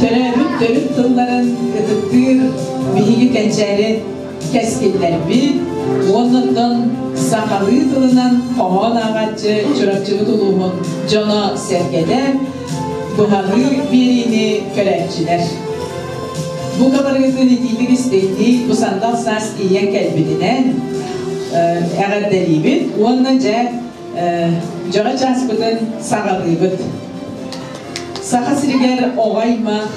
Төрөөбүт төрүт тылларын ытыктыыр биһиги кэнчээри кэскиллэрбит уонна оттон сахалыы тылынан хоһоон ааҕаччы Чурапчыбыт улууһун дьоно-сэргэтэ быһалыы биэриини көрөөччүлэр. Бу кабарыгытын итиитик истиҥнии бу сандал саас ийэ кэлбитинэн эҕэрдэлиибит уонна дьэ дьоро чааспытын саҕалыыбыт. Саха сиригэр оҕо-аймах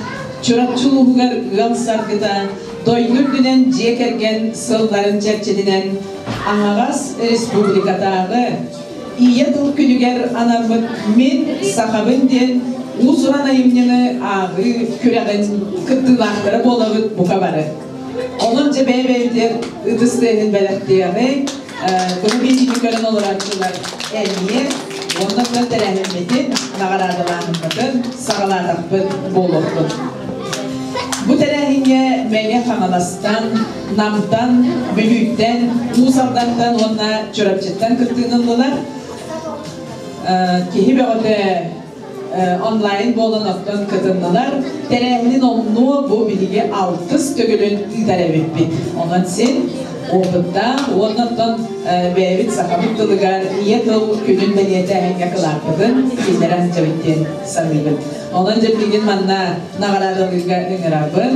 Чурапчы улууһугар ыал саргыта дойду үрдүнэн дьиэ кэргэн сылларын чэрчитинэн аһаҕас республикатааҕы Ийэ тыл күнүгэр анаммыт Мин сахабын диэн уус-уран айымньыны ааҕыы күрэҕин кыттыылаахтара буолабыт бука бары. Онон дьэ бэйэ-бэйэтигэр ытыс тыаһын бэлэхтиэҕи, көрүбиитиини көрөн олорооччулар эмиэ уонна тыа тэрээһиммитин наҕараадалааһыммытын саҕалаатахпыт буолуохпут. Бу тэрээһиҥҥэ Мэҥэ Хаҥаластан, Намтан, Бүлүүттэн, Уус Алдантан уонна Чурапчыттан кыттыылыннылар. Киһи бөҕөтө онлайн буолан оттон кытыннылар. Тэрээһинин оннуо бу биһиги алтыс төгүлүн ыытар эбиппит. Онон син опыттаах уонна оттон бэйэбит сахабыт тылыгар ийэ тыл күнүн бэлиэтээһиҥҥэ кылааппытын киинэрэ сылдьабыт диэн саныыбын. Онон дьэ бүгүн манна наҕараадалыырга ыҥырабын.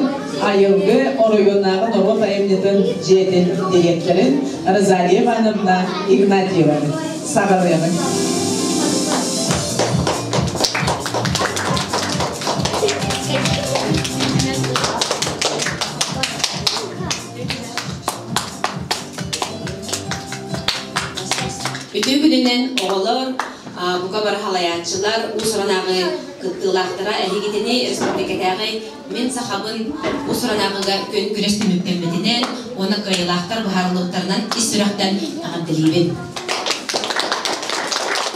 Айылгы оройуоннааҕы норуот айымньытын дьиэтин дириэктэрин Розалия Ивановна Игнатьеваны. саҕалыаҕыҥ Үтүө күнүнэн оҕолор, бука бары халайааччылар, уус-уранааҕы кыттыылаахтара, эһигитини, өрөспүүбүлүкэтээҕи Мин сахабын бу сыралааҕыга күн-күрэс түмүктэммитинэн уонна кыайыылаахтар быһаарыллыбыттарынан ис сүрэхтэн аҕам тэлиибин.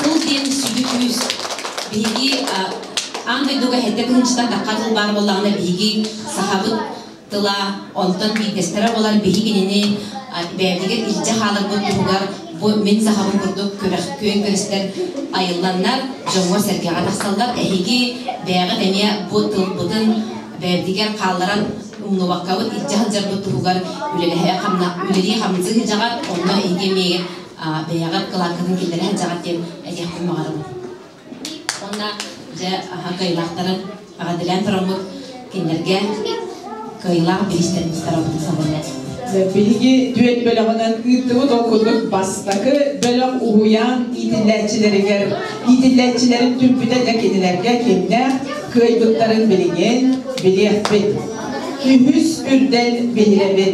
Тыл диэн сүдү күүс. Биһиги аан дойдуга сэттэ тыһыынчаттан тахха тыл баар буоллаҕына биһиги сахабыт тыла онтон биирдэстэрэ буолар биһигинини бэйэтигэр илдьэ хааларбыт туһугар Бу мин сахабын курдук күрэх күөн-күрэстэр айылланнар, дьоҥҥо-сэргэҕэ тахсаллар. Эһиги бэйэҕит эмиэ бу тылбытын бэйэбитигэр хаалларан умнубаккабыт илдьэ сылдьарбыт туһугар үлэлии хамныы сылдьаҕар, онно эһиги эмиэ бэйэҕит кылааккытын киллэрэ сылдьаҕар диэн этиэхпин баҕарабын. Уонна дьэ аһа кыайылаахтарын аҕатилээн тороммут кинилэргэ кыайылаах бириистэрин сарабытын сабынна. Биһиги түөн бөлөҕүнэн ыыттыбыт ол курдук бастакы бөлөх уһуйаан иитиллээччилэригэр иитиллээччилэрин түрбүтэ дьэ кинилэргэ кимнээх кыайбыттарын билигин билиэхпит. Үһүс үрдэл биһирэбин.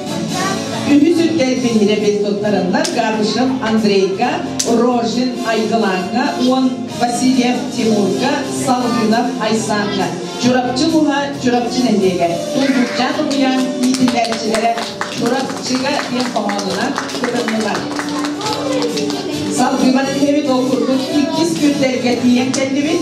Үһүс үрдэл биһирэбин туттарыллар Габышев Андрейга, Рожин Айгылааҥҥа уон Васильев Тимурга, Салгынов Айсааҥҥа, Чурапчы Луһа, Чурапчы нэһилиэгэ, Туйгутчаан Угуйаан иитиллээччилэрэ Чурапчыга диэн хоһоонунан кытыннылар. Салгыман иһэбит ол курдук иккис күрдэргэ тиийэн кэллибит.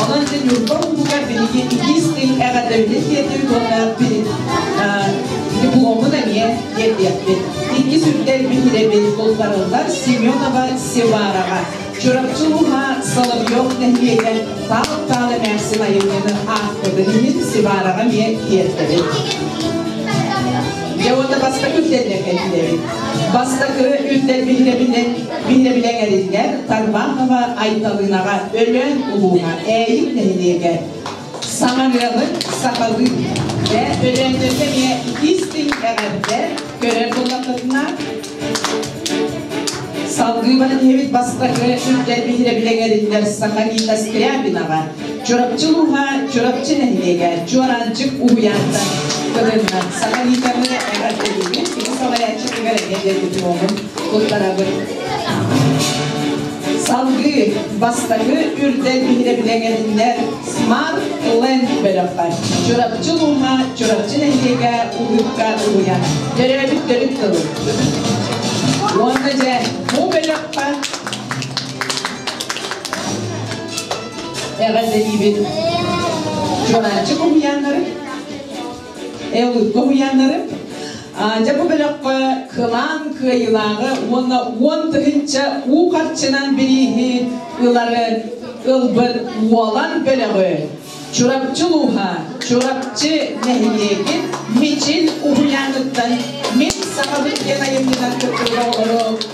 Онон ити Ньурба улууһугар биһиги иккис тыын эҕэрдэбитин тиэрдибит уонна дипломун эмиэ тиэрдиэхпит. Иккис үрдэрбит идэбит бултарыллар Семенова Севараҕа, Чурапчы ууһа Соловьев нэһилиэгэр таал-таал эмээхсин айымньыны аахпытын иһин Севараҕа эмиэ тиэрдэбит. Дьэ уонна бастакы үрдэргэ кэллибит. Бастакы үрдэрбит идэбитин Мин да билэн эриллэр Тарбахова Айталынаҕа Өлөөн улууһа Ээйик нэһилиэгэ саҥарыалын сахалыы Дэ Өлөөннөргө эмиэ истиҥ эҕэрдэ көрөр буоллаххытына салгыы баран иһэбит бастакы күрдэр биһирэбилэҥэриллэр саха Рита Скрябинаҕа Чурапчы улууһа Чурапчы нэһилиэгэ Чуораанчык уһуйаантан кылынна. Саҥа Никаны эҕэрдэлиибин, кини салайааччытыгар эһиэт дипломун туттарабын. Салгыы бастакы үрдэл биһирэбилэ эҥэтиннэр Smart Land бөлөхө Чурапчы улууһа Чурапчы нэһилиэгэ улуукка уһуйаан. Төрөөбүт төрүт тылы. Уонна дьэ, бу бөлөххө Эҕэрдэлиибин Чурааччы уһуйааннары, Эолукка уһуйааннары, дьэ бу бөлөххө кылаан кыайыылааҕы уонна уон тыһынча уу харчынан бирииһи ылары ылбыт Уолан бөлөҕү Чурапчы улууһа Чурапчы нэһилиэгин Мичин уһуйааныттан Мин сахабыт диэн айымньынан кыттыыга оҕолору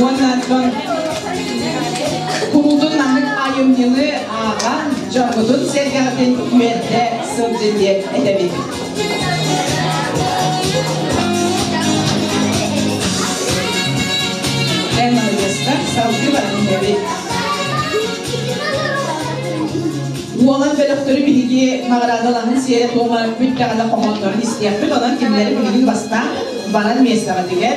уонна куулун аһык айымньыны ааҕан дьоҥҥутун сэргэҕитин үөрдэ сылдьын диэн этэбит. Эн аһыгыска салгыы баран иһэбит. Уолан бөлөхтөрү биһиги наҕараадалаһын сиэрэ-туома бүттэҕинэ хоһооннорун истиэхпит, онон кинилэри билигин бастаан баран миэстэҕитигэр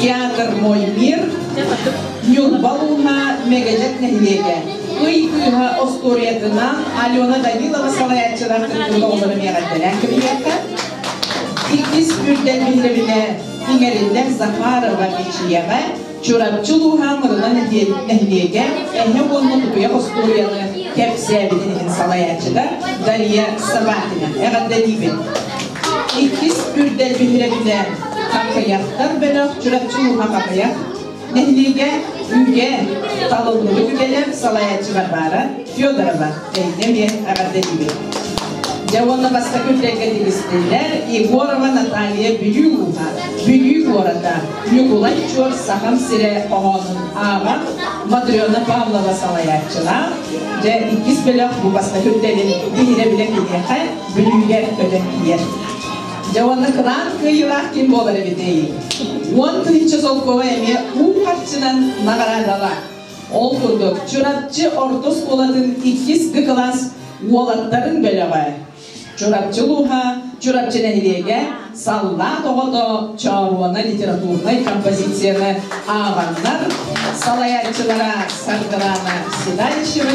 Театр Мой мир, Ньурба Луна Мэгэдьэк нэһилиэгэ ый кыыһа остуоруйатынан Алена Данилова салайааччылар кытыннылар миэҕэрдэлээн кабинетка иккис үрдэл биһирэбинэ иҥэриллэр Захарова Мичийэҕэ Чурапчы улууһа Мырына нэһилиэгэ эһэ уонна тутуйах остуоруйаны кэпсээбитин иһин салайааччыга Дария Собакина эҕэрдэлиибин. Иккис үрдэл биһирэбинэ Хаххыйахтар бөлөх Чурапчы ууһа Хахыйах нэһилиэгэ үүгэ талыллыбы түгэнэ салайааччы Варвара Федорова Эйдэмиэ эҕэрдэлиибит. Дьэ уонна бастакы үтэргэ тигистиллэр Егорова Наталья Бүлүү ууһа Бүлүү куората Ньукулай Чуор Сахам сирэ хоһоонун ааҕар Матрена Павлова салайааччылаах дьэ иккис бөлөх бу бастакы үтэрин биһирэ билэ киниэхэ Бүлүүгэ көтөн тиийэр. Дьэ уонна кыраан кыайыылаах ким буолар эбитэй? Уон тыһычча солкуоба эмиэ уу харчынан наҕараадалаах. Ол курдук, Чурапчы орто оскуолатын иккис Г кылаас уолаттарын бөлөҕө. Чурапчы улууһа Чурапчы нэһилиэгэ саллаат оҕото Чооруона литературнай композицияны ааҕаннар салайааччылара Саргылана Седальщева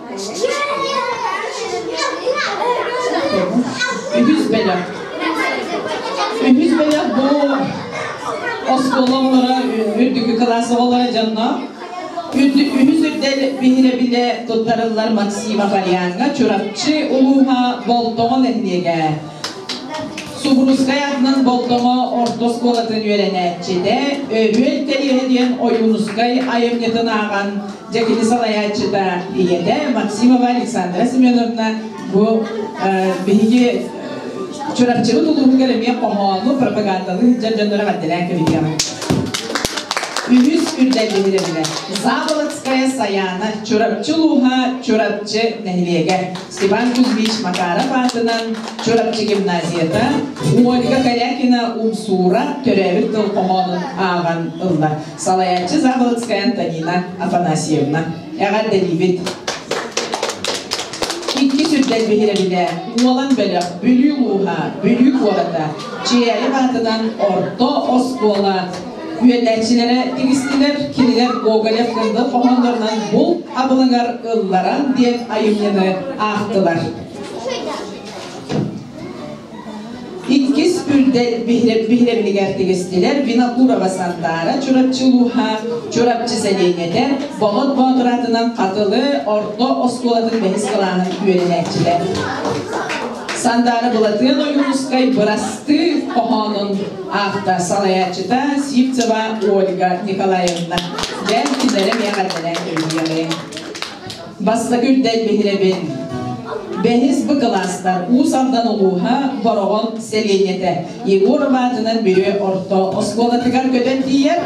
Үһүс бэлэх. Үһүс бэлэх бу оскуолалара үрдүкү классовалара дьонно үһүс үрдэл биһирэбилэ туттарыллар Максима Барьяҥҥа Чурапчы улууһа Болтоҕо нэһилиэгэ Субурускай атынан Болтоҕо орто оскуолатын үөрэнээччитэ Өрүөл Кэриэһэ диэн Ойуунускай айымньытын ааҕан Дьэ кини салайааччыта ийэтэ Максимова Александра Семеновна бу биһиги Чурапчыбыт улууһугар эмиэ хоһоону, пропагандалыы сылдьар дьоннору эҕэрдэлээн кэбиһиэҕиҥ. Үһүс үрдэллиһир эбилэр. Заволодская Саяна, Чурапчы улууһа, Чурапчы нэһилиэгэ. Степан Кузьмич Макаров аатынан Чурапчы гимназията, Ольга Корякина Умсуура төрөөбүт тыл хоһоонун ааҕан ылла. салайааччы Заблоцкая Антонина Афанасьевна эҕэрдэлиибит икки сүрдэл биһирэбилэ уолан бөлөх Бүлүү улууһа Бүлүү куората Чиэйев аатынан орто оскуола үөрэнээччилэрэ тигистилэр кинилэр Гоголев кындыл хоһооннорунан булт абылыҥар ылларан диэн айымньыны аахтылар Иккис үрдэл биһирэмнигэр тигистилэр Винокурова Сандара Чурапчы улууһа Чурапчы сэлиэнньэтэ Болот Боотур атынан Хатылы орто оскуолатын бэһис кылаанын үөрэнээччилэр. Сандара Былатыан Ойуунускай бырастыы хоһоонун автор салайааччыта Сивцева Ольга Николаевна. Дэн кинилэри миэхэрдэнэн өйдүөҕүҥ. Бастакы үрдэл биһирэбин. Бэһис бу кылаастар Уус Алдан улууһа Бороҕон сэлиэнньэтэ Егор Мадьынан Бүлүү орто оскуолатыгар көтөн тиийэр.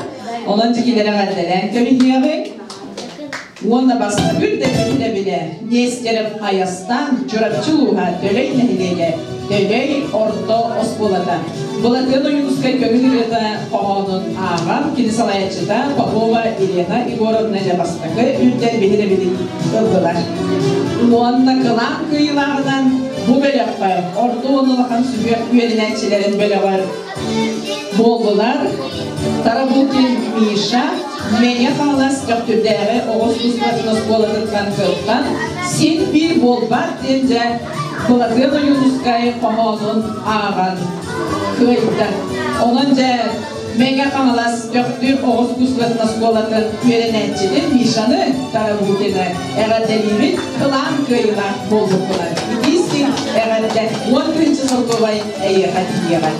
Онон дьикилэри эҕэрдэлээн кэбиһиэҕиҥ. Уонна бастакы үрдэл биһирэбинэ Нестеров Айастан Чурапчы улууһа Төлөй нэһилиэгэ дэлэй орто оскуолата. Былатыан Ойуунускай көҥүл ырыата хоһоонун ааҕан кини салайаччыта Попова Елена Егоровна Дьабастакы үрдэр биһирэбитин ыллылар. Уонна кылаан кыйылааҕынан бу бөлөххө орто уон улахан сүһүөх үөрэнээччилэрин бөлөҕөр буоллулар. Тарабукин Миша Мэҥэ Хаҥалас Көхтүрдээҕи оҕо искусствотын оскуолатыттан кыттан син-бии буолбат диэн дьэ Кулагыан Ойуунускай хоһоонун ааҕан кыайда. Онон дьэ Мега Хаҥалас Дьөхтүр оҕус кустарын оскуолатын үөрэнээччитин Мишаны Тарабукины эҕэрдэлиибит кылаан кыайыылаах буолбуккунан. Итиискин эҕэрдэ уон тыһынча солкуобай эйиэхэ тиийэҕэ.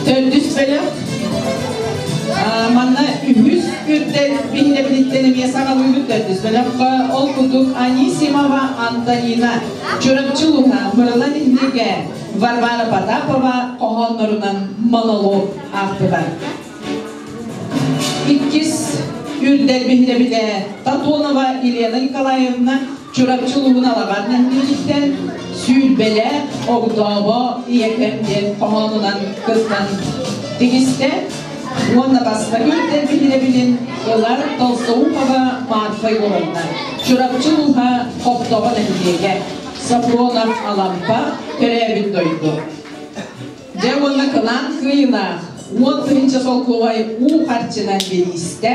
Төрдүс бөлөх манна үһүс үрдэл биллэбититтэн эмиэ саҕалыыбыт төрдүс бөлөххө ол курдук Анисимова Антонина Чурапчы улууһа Мырылан иһнигэ Варвара Потапова хоһооннорунан монолог аахпыта. Иккис үрдэл биһирэбитэ Татонова Елена Николаевна Чурапчы улууһун Алаҕар нэһилиэгиттэн сүүрбэлэ огдообо ийэкэм диэн хоһоонунан кыттан тигистэ уонна бастакы үрдэрбит идэбитин ылар Толстоухова Марфа Егоровна, Чурапчы улууһа Хоптоҕо нэһилиэгэ, Сафронов Алампа, төрөөбүт дойду. Дьэ уонна кылаан кыайынаах уон тыһыынча солкуобай уу харчынан бириистэ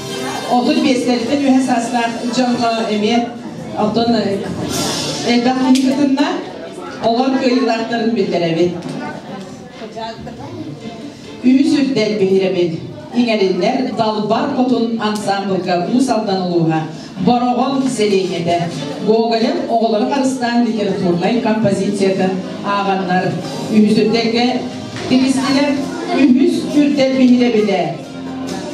Отут биэстэлиттэн үһэ саастаах дьоҥҥо эмиэ оттон элбэх киһи кытынна, олор кыайыылаахтарын биллэрэбит. Үс үрдэл биһирэбит. Иҥэриллэр Далбар Хотун ансаамбылга Уус Алдан улууһа Бороҕон сэлиэнньэтэ Гоголев оҕолору харыстаан литературнай композицията ааҕаннар үһүс үрдэлгэ тигистилэр. Үһүс үрдэл биһирэбилэ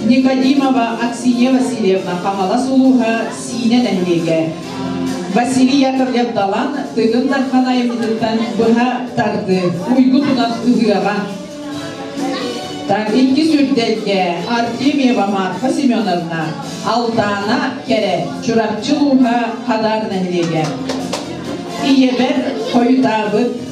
Никодимова Аксинья Васильевна Хаҥалас улууһа Сиинэ нэһилиэгэ Василий Яковлев-Далан Тыгын Дархан айымньытыттан быһа тарды уйгу тунан ыһыаҕа иккис үрдэлгэ Артемьева Марфа Семеновна Алтаана Кэрэ Чурапчы улууһа Хадаар нэһилиэгэ ийэбэр хойутаабыт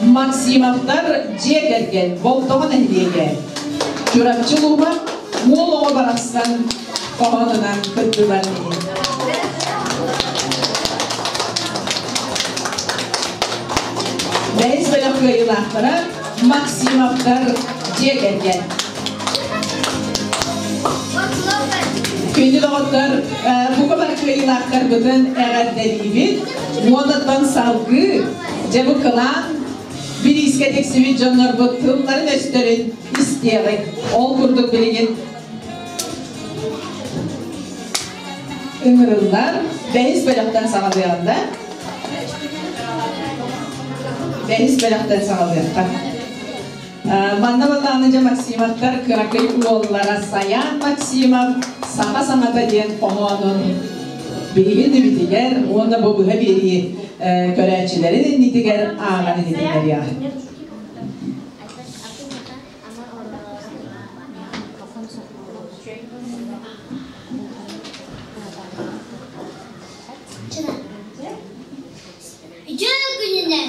Максимовтар дьиэ кэргэн Болтоҕо нэһилиэгэ Чурапчы улууһа уол оҕо барахсан хоһоонунан кыттылар Бэйс бөлөх кыайыылаахтара Максимовтар дьиэ кэргэн Күндү доҕоттор, э, бука бар кыайыылаахтарбытын эҕэрдэлиибит. Уотаттан салгыы Дьэ бу кылаан бириискэ тиксибит дьоннорбут тылларын өстөрүн истиэҕиҥ. Ол курдук билигин ыҥырыллан бэһис бөлөхтөн саҕалыаҕын да. Бэһис бөлөхтөн саҕалыахха. Манна Батаныдьа Максимовтар кыракый уоллара Саян Максимов саха саҥата диэн хоһоонун билигин үбүтүгэр уонна бу быһа биэрии көрөөччүлэрин иннитигэр ааҕан иһитиннэриэ. Чыра, күнүнэн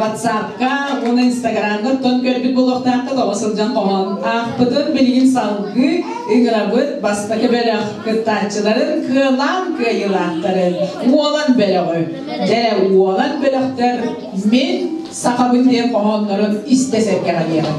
WhatsApp-ка уонна Инстаграмга оттон көрбүт буолуохтааххыт оҕо сылдьан хоһоон аахпытын билигин салгыы ыҥырабыт бастакы бөлөх кыттааччыларын кыалаан кыайыылаахтарын уолан бөлөҕү дэрэ уолан бөлөхтөр мин сахабыт диэн хоһооннорун истэ сэргэҕэлиэҕим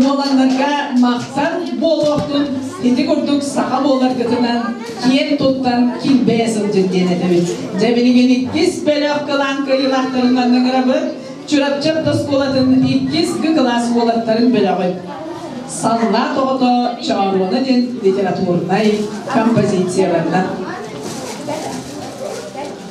уоланнарга махтал буолуохтун ити курдук саха буоларгытынан киэн туттан килбэйэ сылдьын диэн этэбит дьэ билигин иккис бөлөх кылаан кыайыылаахтарын манныгырабын Чурапчы ордоскуолатын иккис кылаас уолаттарын бөлөҕүн саллаат оҕото Чооруона диэн литературнай композицияларынан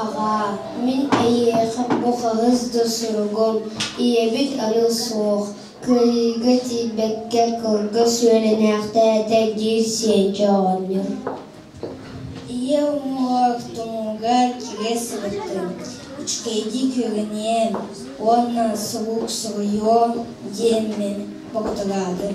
Аҕаа, мин эйиэхэ бу хаһыс да суругум ийэбит аны суох, Кыайыыга тиийбэккэ кылгас үөрэнээхтээтэ диир Сиэдьэ оҕонньор ийэ уҥуох тумуугар кигэ сырыттын, үчүгэйдик үөгэниэн уонна сурук суруйуо диэммин бобуталаатым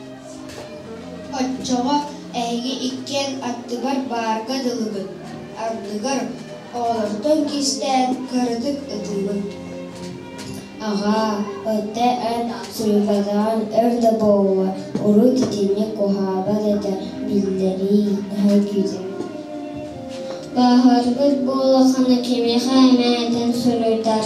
Оччоҕо эһиги иккиэн аттыгар баарга дылыбыт, ардыгар оҕолортон кистээн кыратык ытыыбын «Аҕаа, ити эн Сүүмэдээн өр да буолла, урут итинник куһаабат этэ, биллэрий» наһаа күүтэрим Бааһырбыт буоллаххына кимиэхэ эмэ этэн суруйдар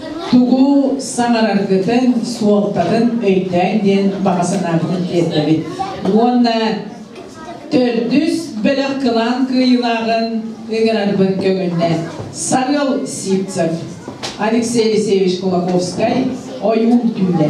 тугу саҥараргытын, суолтатын өйдөөҥ диэн баҕа санаабытын тиэрдэбит. Уонна төрдүс бөлөх кылаан кыайыылааҕын ыҥырарбын көҥүллээн Сарыал Сивцев, Алексей Алексеевич Кулаковскай ойуун түүлэ.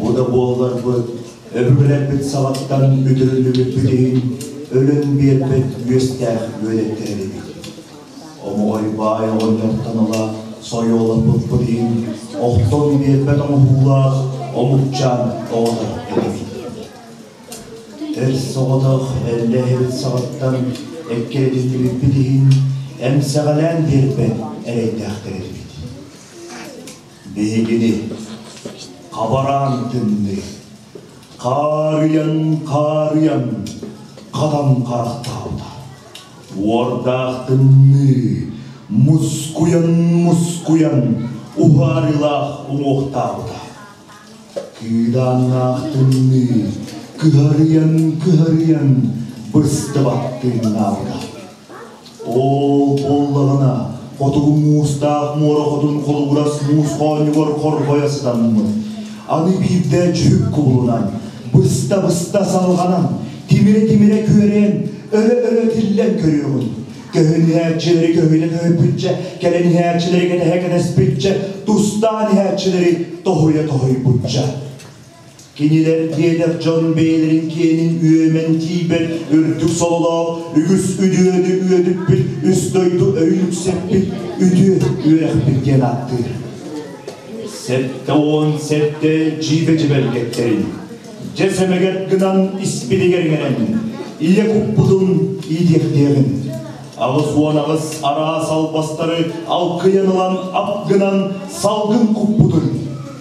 Ол да буолларбыт, өбүгэлэрбит сабаттан бүтүрүллүбүппүт иһин, өлөн биэрбит үөстээх үөдэттэр эбит. Омоҕой баай оҕонньортонола сойуолаппыппыт иһин, охтон биэрбэт оҥоһуулаах омукчаан оҕото эбит. Эр соҕотох эллэһэбит сабаттан эккээдиллибиппит иһин, эмсэҕэлээн биэрбэт эрэйдээхтэр эбит. Биһигини хабараан төннү, хаарыйан хаарыйан хатан харахтаабыта. Уордаах тымныы мускуйан мускуйан уһаарыылаах уҥуохтаабыта. Кыыдааннаах тымныы кыһарыйан кыһарыйан быстыбат тыыннаабыта. Оо, буоллаҕына, хотугу муустаах муора хотун холугурас муус хоонньугар хорҕойо сытаммыт. Аны биирдэ дьүһүк кубулунан, быста-быста салҕанан, тимирэ-тимирэ күөрээн, өлө-өлө тиллэн көрүөҕүн. Көһүн иһээччилэри көһүнэ көһүппүччэ, кэлэн иһээччилэри кэтэһэ кэтэспиччэ, тустаан иһээччилэри тоһуйа тоһуйбучча. Кинилэр диэтэр дьон бэйэлэрин киэнин үөмэн тиийбэт үрдүк сололоох үгүс үдүөдү үөдүппүт үс дойду өйүн үксэппит үтүө үөрэхпит диэн ааттыыр. Сэттэ уон сэттэ дьиибэ дьибэргэттэрин дьэ сэмэгэр гынан испитигэр иҥэрэн ийэ куппутун иитиэхтиэҕин алыс уон алыс араас албастары алкыйан ылан ап гынан салгын куппутун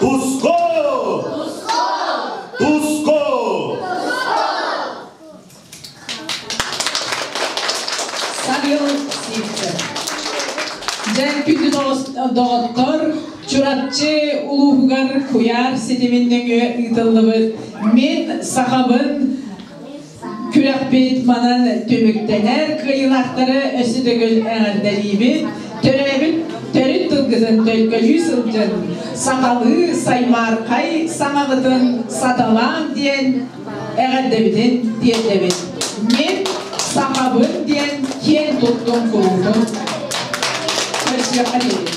Пуско! Пуско! Сарьел Сивцев. Дьэн күндү доҕоттор, Чурапчы улууһугар куйаар ситимин нөҥүө ыытыллыбыт Мин сахабын Күрэхпит манан түмүктэнэр. Кыайыылаахтары өссө төгүл эҕэрдэлиибит. Төрөөбүт төрүт тылгытын төлкөлүү сылдьын. Сахалыы саймаархай саҥабытын саталаан диэн эҕэрдэбитин тиэрдэбит. Мин сахабын диэн киэн туттум куруутун. Көрсүөххэ диибит.